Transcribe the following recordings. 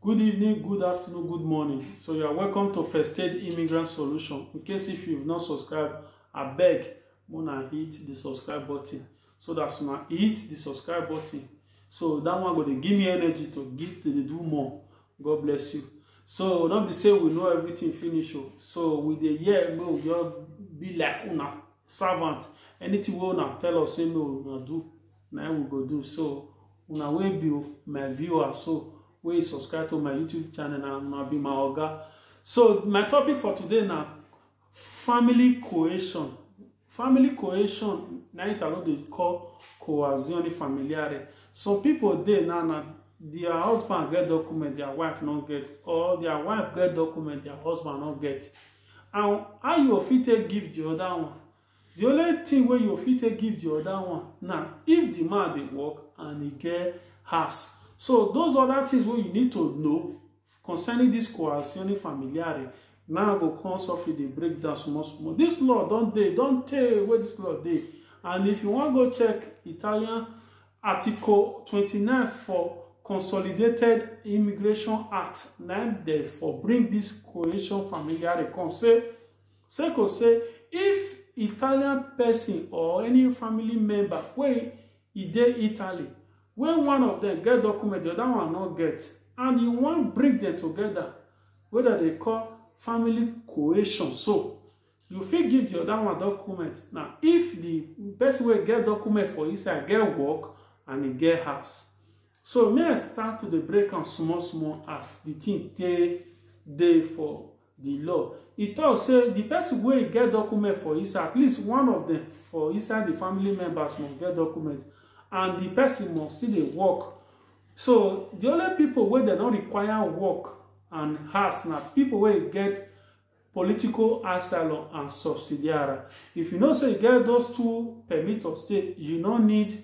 Good evening, good afternoon, good morning. So you are welcome to First Aid Immigrant Solution. In case if you've not subscribed, I beg una hit the subscribe button. So that's una hit the subscribe button. So that one go dey give me energy to give to dey do more. God bless you. So no be say we know everything finish o. So we dey hear make we just be like una servant. Anything wey una tell us say make una do, na im we go do so una wey be my viewer so wey you subscribe to my youtube channel na una be my oga so my topic for today na family cohesion family cohesion na italo dey call coazione familiare some people dey now na their husband get document their wife no get or their wife get document their husband no get and how you fit take give the other one Di only tin wey you fit take give di oda one na if di man dey work and e get house. So those oda tins wey you need to know concerning dis coercione familiare na I go come sofri dey break down small small. Dis law don dey, e don tey wey dis law dey and if you wan go check Italian article twenty nine for consolidated immigration act na im dem for bring dis coercion familiare come sey sake of sey if Italian person or any family member wey e dey Italy wey one of dem get document, the other one no get and you wan bring dem together wey dem dey call family cohesion so, you fit give the other one document na if the person wey get document for inside get work and e get house. So make I start to dey break am small small as the thing take dey for di law. E tok say di pesin wey get document for inside, at least one of dem for inside di family members must get document and di pesin must still dey work. So, di only pipo wey dem don require work and house na pipo wey get political asylum and subsidiary. If you know say you get those two permit of stay, you no need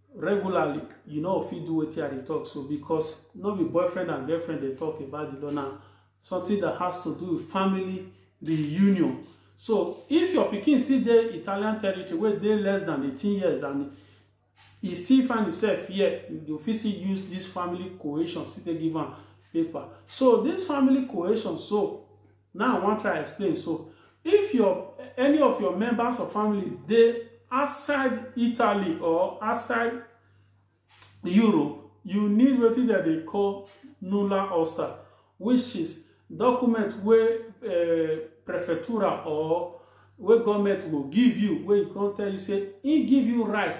regularly you know fit do wetin i dey talk so because no be boyfriend and girlfriend dey talk about the law now something that has to do with family reunion so if your pikin still dey italian territory wey dey less than 18 years and e still find himself here you fit still use this family cohesion still take give am paper so this family cohesion so Now I wan try explain. So if your any of your members or family dey outside Italy or outside Europe, you need wetin dem dey call nulla osta, which is document wey uh, prefectura or wey government go give you, wey e come tell you say e give you right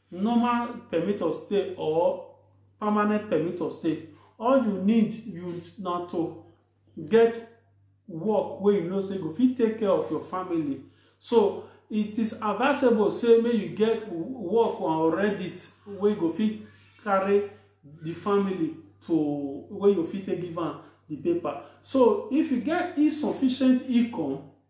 normal permit of stay or permanent permit of stay all you need you na to get work wey you know say go fit take care of your family so it is advisable say make you get work or reddit wey go fit carry the family to wey you fit take give am the paper so if you get insufficient income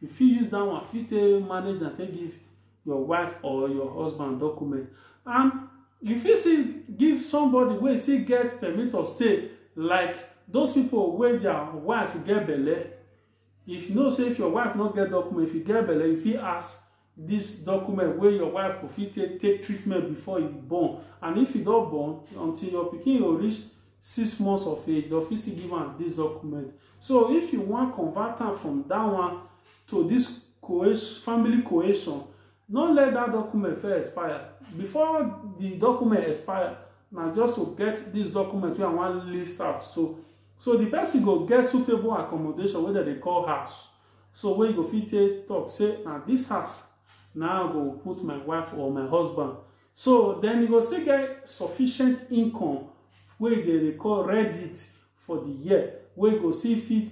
you fit use that one fit take manage am take give your wife or your husband document and you fit still give somebody wey still get permit of stay like those people wey their wife get belle if you know say if your wife no get document if you get belle you fit ask this document wey your wife go fit take take treatment before you born and if you don born until your pikin go reach six months of age dem fit still give am this document so if you wan convert am from that one to this cohesion family cohesion no let that document first expire before the document expire na just to get this document wey i wan list out so so the person go get suitable accommodation wey dem dey call house So wey you go fit take talk say na this house na I go put my wife or my husband. So then you go still get sufficient income wey you dey record reddit for the year wey you go still fit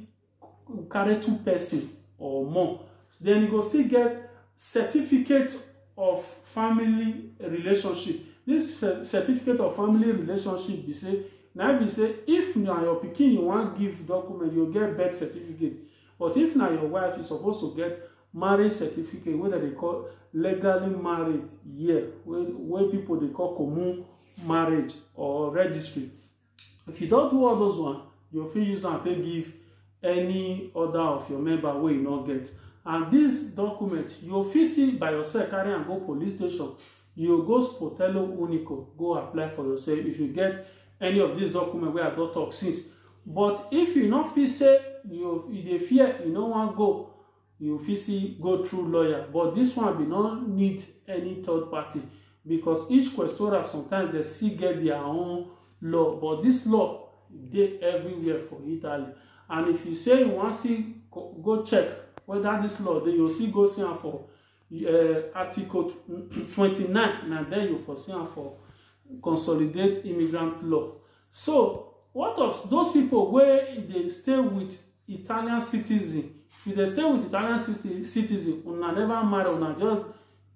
carry two person or more. Then you go still get certificate of family relationship. This certificate of family relationship be say na be say if na your pikin you wan give document, you get birth certificate. But if na your wife, you suppose to get marriage certificate wey dem dey call legally married here, wey wey people dey call common marriage or registry. If you don do all those one, you fit use am take give any other of your member wey you no get. And this document, you fit still by yourself carry am go police station You go Sportello Unico go apply for yourself if you get any of these documents where I don't talk since. But if you not feel say you, you dey fear, you no wan go, you fit see go through lawyer. But this one be no need any third party because each questora sometimes they still get their own law. But this law dey everywhere for Italy. And if you say you wan see go check whether this law dey, you still go see am for uh, Article 29. Now there you for see for consolidate immigrant law. So what of those people where they stay with Italian citizen? If they stay with Italian citizen, una never marry, una just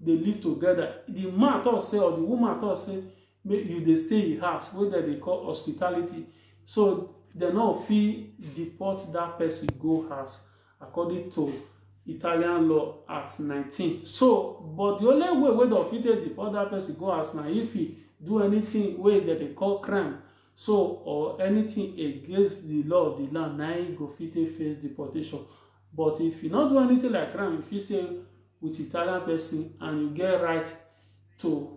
they live together. The man talk say or the woman talk say make you they stay in house wey dem dey call hospitality. So they no fit deport that person go house according to Italian law at nineteen. So, but the only way wey dem fit take deport that person go house na if he do anything wey dem dey call crime so or anything against the law of the land na he go fit take face deportation. But if he no do anything like crime, he fit stay with Italian person and he get right to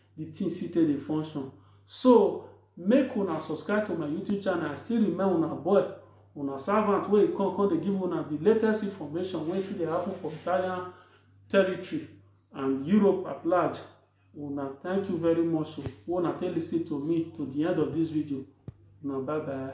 the thing still take dey function so make una subscribe to my youtube channel i still remain una boy una servant wey come come dey give una the latest information wey still dey happen for italian territory and europe at large una thank you very much o una take lis ten to me to the end of this video una bye bye.